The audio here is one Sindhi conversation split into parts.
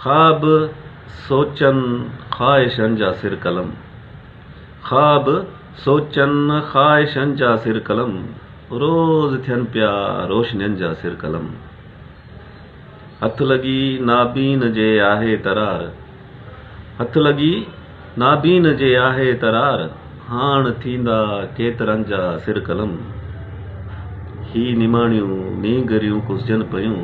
خواب سوچن خواهشن جا سر قلم خواب سوچن خواهشن جا سر قلم روز ٿين پيا روشنين جا سر قلم هٿ لڳي نابين جي آهي ترار هٿ لڳي نابين جي آهي ترار هاڻ ٿيندا ڪيترن جا سر قلم هي نماڻيون نينگريون ڪسجن پيون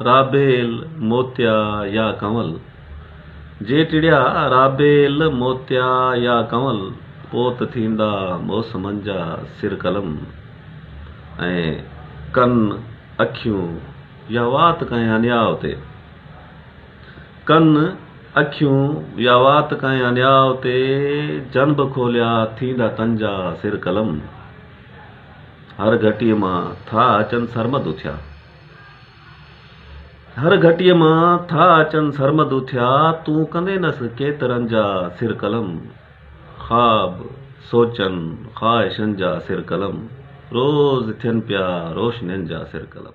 رابيل، موتيا يا ڪنول، جي ٽڙيا رابيل، موتيا يا ڪنول، پوء ته ٿيندا موسمن جا سر قلم ۽ ڪن، اکيون يا وات ڪنهن انياء تي. ڪن، اکيون يا وات ڪنهن انياء تي، جنب کوليا ٿيندا تن جا سر قلم. هر گهٽيء مان ٿا اچن سرمد اٿيا. هر گهٽيء مان ٿا اچن سرمد اٿيا، تون ڪندين نس ڪيترن جا سر قلم، خواب، سوچن، خواهشن جا سر قلم، روز ٿين پيا روشنين جا سر قلم.